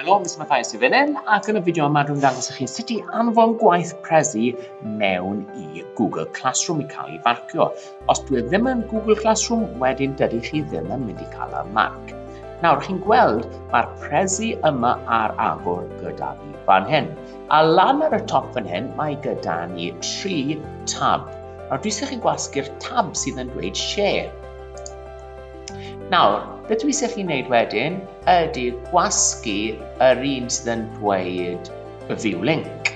Helo, Miss Mathias yw fan ac yn y fideo yma dwi'n dangos i chi sut i anfon gwaith Prezi mewn i Google Classroom i cael ei farcio. Os dwi e ddim yn Google Classroom, wedyn dydy chi ddim yn mynd i cael y marc. Nawr, chi'n gweld, mae'r Prezi yma ar agor gyda fi fan hyn. A lan ar y top fan hyn, mae gyda ni tri tab. Nawr, dwi'n sy'n chi'n gwasgu'r tab sydd yn dweud share. Nawr, beth dwi eisiau chi wneud wedyn ydy gwasgu yr un sydd yn dweud view link.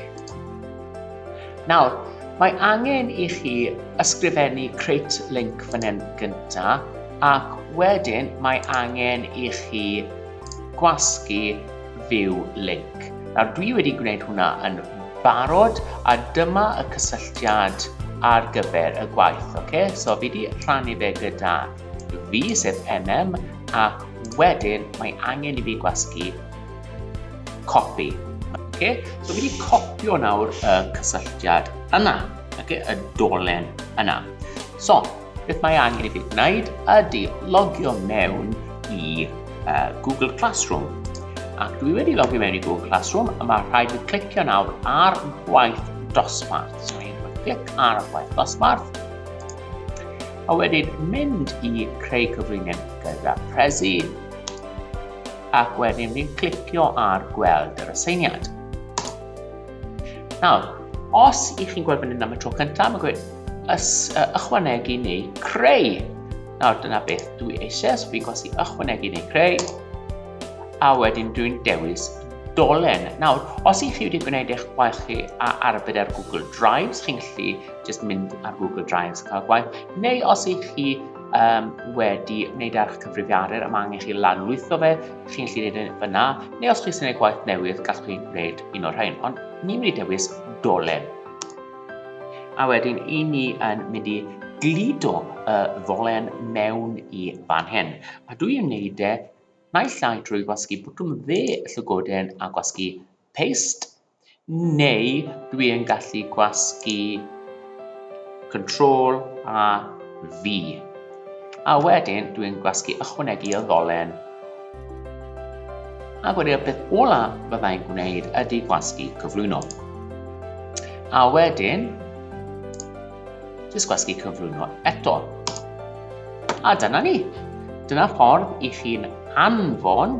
Nawr, mae angen i chi ysgrifennu create link fan hyn gyntaf ac wedyn mae angen i chi gwasgu view link. Nawr dwi wedi gwneud hwnna yn barod a dyma y cysylltiad ar gyfer y gwaith. Okay? So fi wedi rhannu fe gyda fi, sef MM, a wedyn mae angen i fi gwasgu copi. Okay? So fi wedi copio nawr y cysylltiad yna, okay? y dolen yna. So, Beth mae angen i fi wneud ydy logio mewn i uh, Google Classroom. Ac dwi wedi logio mewn i Google Classroom a mae rhaid i clicio nawr ar gwaith dosbarth. So i'n rhoi clic ar gwaith dosbarth. A wedyn mynd i creu cyfriniad gyda Prezi. Ac wedyn fi'n clicio ar gweld yr aseiniad. Nawr, os i chi'n gweld fyny'n am y tro cyntaf, mae'n gweud ychwanegu neu creu. Nawr, dyna beth dwi eisiau, so fi'n gwasi ychwanegu neu creu, a wedyn dwi'n dewis dolen. Nawr, os i chi wedi gwneud eich gwaith chi a arbed ar Google Drives, chi'n gallu just mynd ar Google Drives cael gwaith, neu os i chi um, wedi wneud ar eich cyfrifiadur, yma mae angen chi lanlwytho fe, chi'n gallu gwneud e fyna, neu os chi'n gwneud gwaith newydd, gallwch chi gwneud un o'r rhain, ond ni'n mynd i dewis dolen. A wedyn, i ni yn mynd i glido y ddolen mewn i fan hyn. A dwi yn gwneud e naill ai drwy gwasgu bwtwm dde y llygoden a gwasgu paste, Neu dwi yn gallu gwasgu Control a V. A wedyn dwi'n gwasgu ychwanegu y ddolen. Ac wedyn y peth ola fydda i'n gwneud ydy gwasgu cyflwyno. A wedyn, jyst gwasgu cyflwyno eto. A dyna ni. Dyna ffordd i chi'n anfon